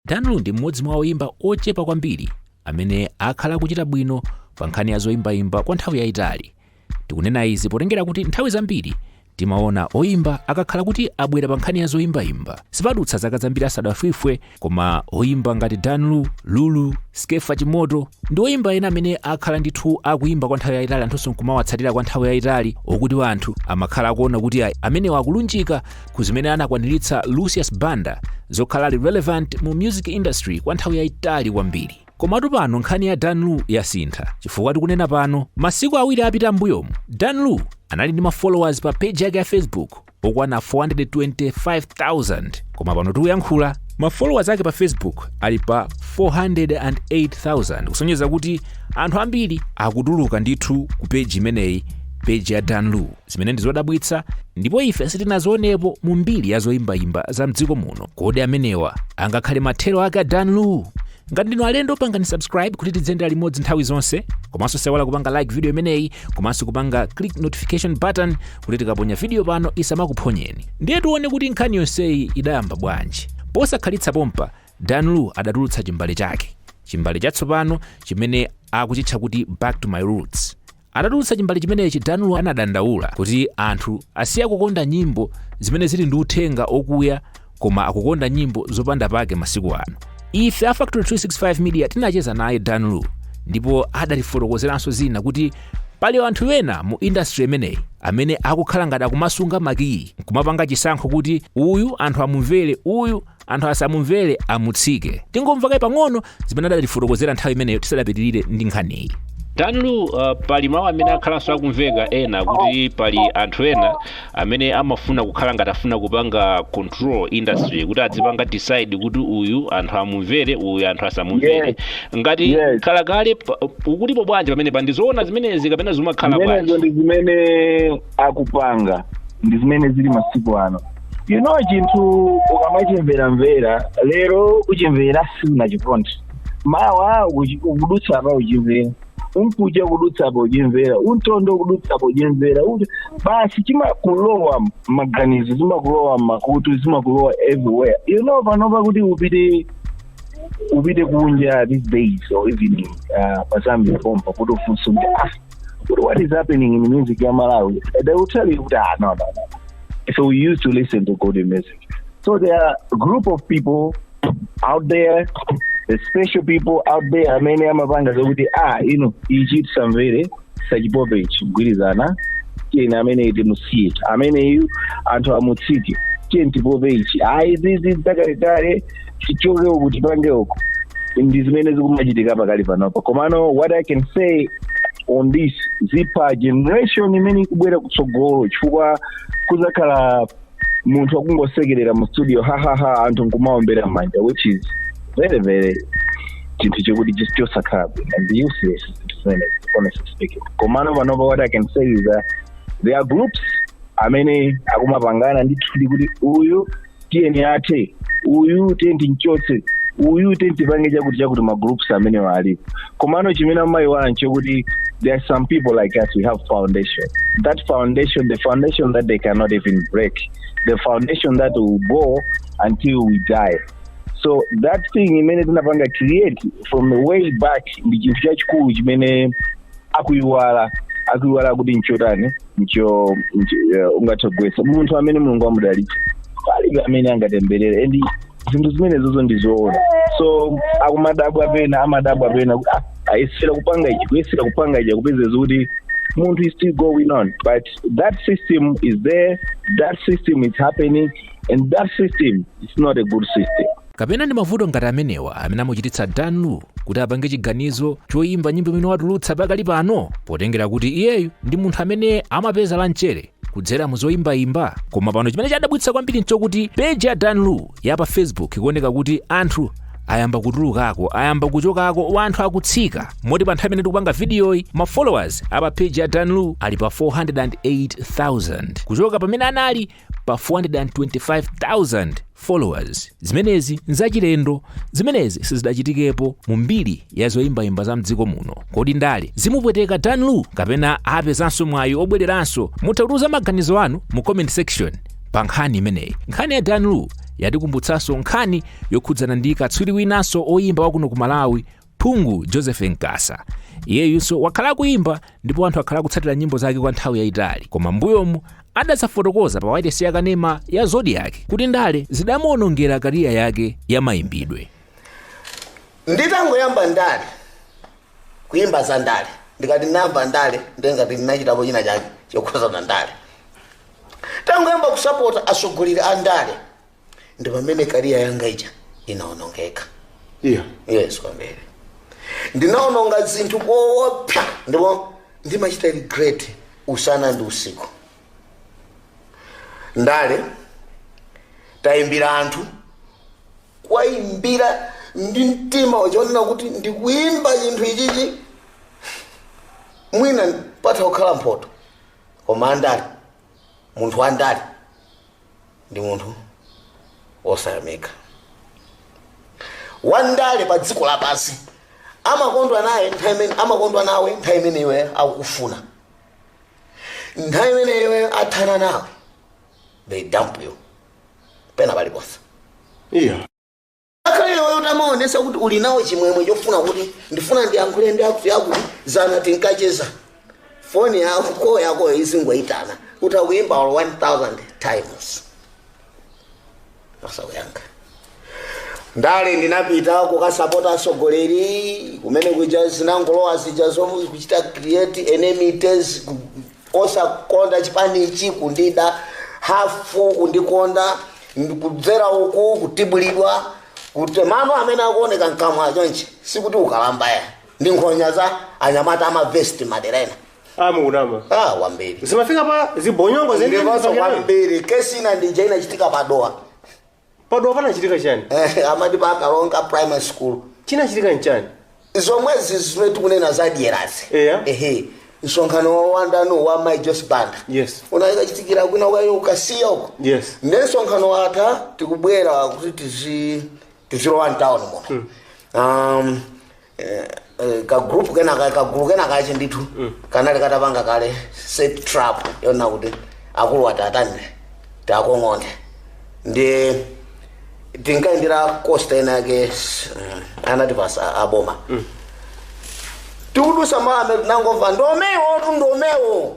danlu ndi mmodzi mwa oyimba ochepa kwambiri amene akhala kuchita bwino pa nkhani ya zoyimbayimba kwa nthawi yayitali tikunena izi potengera kuti nthawi zambiri timaona oyimba akakhala kuti abwera pa nkhani ya zoyimbayimba sipadutsa zaka zambiri asadafwife koma oyimba ngati danlu lulu skefa chimoto ndi oyimba ena amene akhala ndithu akuyimba kwa nthawi yayitali anthunso nkumawatsatira kwa nthawi yayitali okuti anthu amakhala akuona kuti amenewa akulunjika ku zimene anakwaniritsa lucius banda zokhala ali relevant mu music industry kwa nthawi yayitali kwambiri komatu pano nkhani ya dan lu yasintha chifukwa tikunena pano masiku awiri apita mbuyomu dan lu anali ndi mafollowers pa page yake ya facebook okwana 425000 koma pano tikuyankhula mafollowers ake pa facebook ali pa 408000 kusonyeza kuti anthu ambiri akutuluka ndithu ku page imeneyi page ya dan lu zimene ndi zodabwitsa ndipo ife sitinazionepo mu mbiri ya zoyimbayimba za mdziko muno kodi amenewa angakhale mathero ake a dan lu ngati ndinu alendo pangani subscribe kuti tidziyendera limodzi nthawi zonse komanso osayiwala kupanga like video imeneyi komanso kupanga click notification button kuti tikaponya video pano isamakuphonyeni ndiye tione kuti nkhani yonseyi idayamba bwanji posakhalitsa pompa dan lu adatulutsa chimbale chake chimbale chatsopano chimene akuchitcha kuti back to my roots Atatulutsa chimbale chimenechi, Dan Lu anadandaula kuti anthu asiya kukonda nyimbo zimene zili ndi uthenga okuya koma akukonda nyimbo zopanda pake masiku ano. Ife a Factory 365 Media tinacheza naye Dan Lu ndipo adatifotokozeranso zina kuti pali anthu ena mu industry imeneyi amene akukhala ngati akumasunga makiyi kumapanga chisankho kuti uyu anthu amumvere uyu anthu asamumvere amutsike tingomva kaye pang'ono zimene adatifotokozera nthawi imeneyo tisadapitirire ndi nkhaniyi Danlu uh, pali mawu amene akhalanso akumveka ena kuti pali anthu ena amene amafuna kukhala ngati afuna kupanga control industry kuti adzipanga decide kuti uyu anthu amumvere uyu anthu asamumvere Yes. ngati Yes. khala kale pa- mukutipo bwanji pamenepa ndizoona zimenezi kapena zimakhala bwanji zimenezo ndi zimene akupanga ndi zimene zili masiku ano you know chinthu ukamachimveramvera lero uchimvera siunachikonde mawa uchi- ukudutsa apa uchimvera umkuja ukudutsa apa uchimvera umtondo ukudutsa apa uchimvera Uti- basi chimakulowa maganizo zimakulowa mmakutu zimakulowa everywhere you know panopa kuti upite upite kunja these days or even uh, pazambia pompa kuti ufunse kuti ah What, what is happening in the music ya Malawi? They will tell you, ah, no, no, no. So we used to listen to good music. So there are a group of people out there, the special people out there amene amapanga zokuti ah ino ichi tisamvere tisachipope ichi kugwirizana tiyeni amene timusiye ameneyu anthu amutsike tiyeni tipope ichi ayi zizi zakale kale tichoke uku tipange uku ndi zimene zikumachitika pakali panopa komano what i can say on this zipha generation imene ikubwera kutsogolo chifukwa kuzakhala munthu akungosekerera mu studio hahaha anthu nkumaombera mmanja which is very very chinthu chokuti chis- chosakhala bwino and useless zinthu zimenezi honestly speaking komano panopa what i can say is that there are groups amene akumapangana ndithu kuti uyu tiyeni athe uyu tiyeni timchotse uyu tiyeni tipange chakuti chakuti magroups amenewa alipo komano chimene amayiwala nchokuti there are some people like us we have foundation that foundation the foundation that they cannot even break the foundation that will go until we die so that thing imene tinapanga create from the way back ndi chinthu chachikulu chimene akuyiwala akuyiwala kuti nchotani ndicho ndicho- eh, ungathe kugwetsa munthu amene mulungu anamudalitsa palibe amene angatemberere and zinthu zimenezozo ndizoona so akumadabwa pena amadabwa pena kuti, ah, ayesera kupanga ichi kuyesera kupanga ichi kupezeka kuti munthu is still going on but that system is there that system is happening and that system is not a good system Kapena ndi mavuto ngati amenewa amene amuchititsa Dan Lu kuti apange chiganizo choyimba nyimbo imene watulutsa pakali pano potengera kuti iyeyu ndi munthu amene amapeza la mchere kudzera mu zoyimbayimba koma pano chimene chadabwitsa kwambiri nchokuti peji ya Dan Lu ya pa Facebook ikuoneka kuti anthu ayamba kutulukako ayamba kuchokako anthu akutsika moti pa nthawi imene tikupanga vidiyoyi ma followers a pa page ya Dan Lu ali pa 408,000 kuchoka pamene anali pa 425,000 followers zimenezi nzachilendo zimenezi sizidachitikepo mu mbiri ya zoyimbayimba za mdziko muno kodi ndale zimupweteka dan lu kapena apezanso mwayi obwereranso mutha kutiuza maganizo anu mu comment section pa nkhani imeneyi nkhani ya dan lu yatikumbutsanso nkhani yokhudzana ndi katswiri winanso oyimba wakuno ku malawi Phungu Joseph Nkasa iyeyunso wakhala akuyimba ndipo anthu akhala akutsatira nyimbo zake kwa nthawi yayitali koma mbuyomu adazafotokoza pa wailesi ya kanema ya Zodiak kuti ndale zidamuonongera kariya yake ya mayimbidwe nditangoyamba ndale kuyimba za ndale ndikati ndinayamba ndale ndengati ndinachitapo china chake chokhuzana ndale tangoyamba kusapota atsogoleri a ndale ndi pamene kariya yanga ija inaonongeka iya yes kwambiri ndinaononga zinthu koopsa ndipo ndimachita regret usana ndi usiku ndale tayimbira anthu kuwayimbira ndi mtima wachonena kuti ndikuyimba chinthu ichichi mwina patha kukhala mphoto koma andale munthu wandale ndi munthu wosayamika wandale pa dziko lapansi amakondwa naye nthawi imene amakondwa nawe nthawi imene iwe akukufuna nthawi imene iye wathana nawe they dump you pena paliponse iya Ngakhale iweyo utamaonetsa kuti uli nawo chimwemwe chofuna kuti ndifuna ndiyankhule ndi akuti akuti dzana tinkacheza foni yako koo yakoyo izingoyitana utakuyimba olo 1000 times osakuyankha ndale ndinapita kukasapota atsogoleri kumene kuja zinangolowa zija zomwe kuchita create enemies osakonda chipanichi kundida hafu kundikonda kudzera uku kutibulidwa kuti mano amene akuoneka mkamwa achonchi sikuti ukalambaya ndi nkhonya za anyamata amavesti madera ena ah, wambiri zimafika pa zibonyongo ndiponso kwambiri kesi ina ndi ija inachitika pa Dowa pa Dowa panachitika chani Eh, amati pa kalonga primary school chinachitika nchani zomwezi zimene tikunena za dyerazi Eya. ehe msonkhano wa wandale wa mai Joyce Banda Yes. unakachitikira kwina kwake uko Kasiya uko Yes. nde msonkhano watha tikubwera kuti tizi tizilowa mtawuni muno um, ka group kena ka ka group kena kache ndithu kanali katapanga kale set trap yona kuti akulu atatani takong'onde ndi tinkaendera costa inayake s- mm, anati pasa aboma tikudutsa mame tinangomva ndomewo tu ndomewo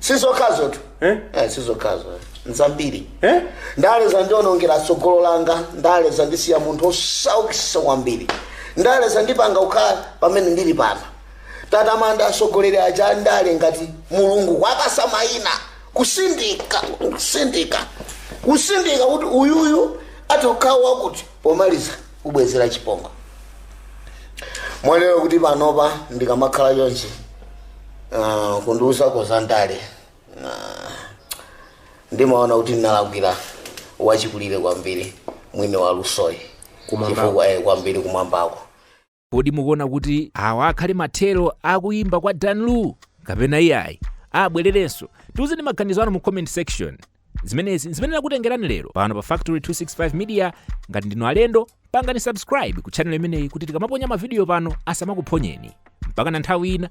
sizokhazotu Eh? Eh, sizokhazo nzambiri Eh? ndale zandionongera tsogolo langa ndale zandisiya munthu wosaukitsa kwambiri ndale zandipanga kukhala pamene ndili pano tatamanda atsogoleri aja a ndale ngati mulungu kuwapatsa mayina kusindika kusindika kusindika kuti uyuyu atokhawo wakuti pomaliza kubwezera chipongwe mwanjira yoti panopa ndikamakhala chonchi ah, kundiuzako za ndale ah, ndimaona kuti ndinalakwira wachikulire kwambiri mwini wa lusoyi Kumwambako. chifukwa eh, kwambiri kumwambako Kodi mukuona kuti awa akhale mathero a kuyimba kwa Dan Lu kapena iyayi? Abwererenso. Tiuzeni maganizo anu mu comment section. Zimenezi nzimene nakutengerani lero pano pa Factory 265 Media. Ngati ndinu alendo, pangani subscribe ku channel imeneyi kuti tikamaponya mavidiyo pano asamakuphonyeni. Mpaka na nthawi ina,